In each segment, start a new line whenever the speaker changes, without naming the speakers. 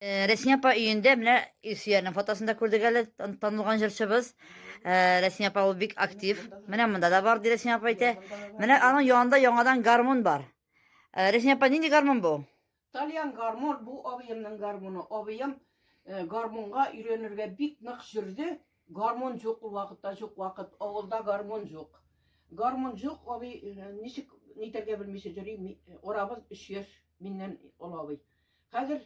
Рәсми апа өендә менә Илсөярнең фотосын да күрдек әле, танылган җырчыбыз. Рәсми апа ул бик актив. Менә монда да бар, ди Рәсми апа әйтә. Менә аның янында яңадан гармун бар. Рәсми апа, нинди гармун бу? Тальян гармун,
бу абыемның гармуны. Абыем гармунга өйрәнергә бик нык жүрде. Гармун җук ул вакытта, җук вакыт. Авылда гармун җук. Гармун җук, абый, э, ничек нитәргә белмичә йөри, э, арабыз 3 яшь миннән олы абый. Хәзер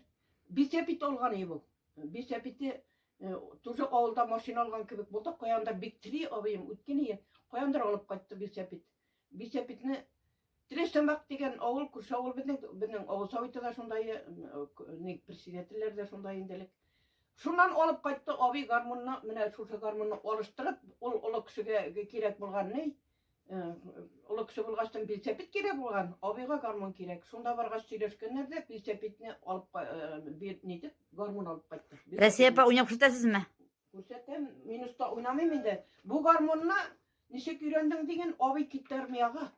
бисәпит алган иде бу. Бисәпите э, тоже авылда машина алган кебек булды, каяндыр бик три абыем үткен ие, каяндыр алып кайтты бисәпит. Бисәпитне Тресамак дигән авыл, күрше авыл безнең, безнең авыл советы да шундай, ник председательләр дә шундай инделек. Шуннан алып кайтты абый гармунны, менә шушы гармунны алыштырып, ул олы кешегә кирәк булган ни? Олы кеше булгачтан билсәпит кирәк булган, абыйга гармун кирәк. Шунда баргач сөйләшкәннәр дә, билсәпитне алып бир нитеп, гармун алып кайтты. Рәсия апа уйнап
күрсәтәсезме? Күрсәтәм,
минуста уйнамыйм инде. Бу гармунны Ничек өйрәндең диген, абый китте армиягә.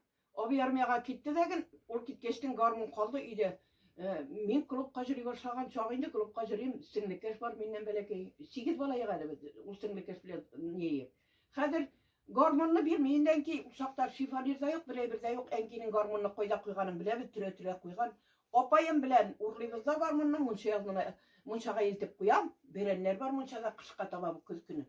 Абый армиягә китте дәген, ул киткәчтен гармун калды өйдә. Э, мин клубка җөри башлаган чак инде, клубка җөрим, сеңлекәш бар миннән бәләкәй. Сигез бала ягы әле без, ул сеңлекәш белән ни. Хәзер гармунны бирми, инде әнки чакта шифонир да юк, берәй бер дә юк. Әнкинең гармунны кайда куйганын беләбез, төрә-төрә куйган. Апаем белән урлыйбыз да гармунны, мунча ягына, мунчага илтеп куям. Бәрәннәр бар мунчада кышка таба, көз көне.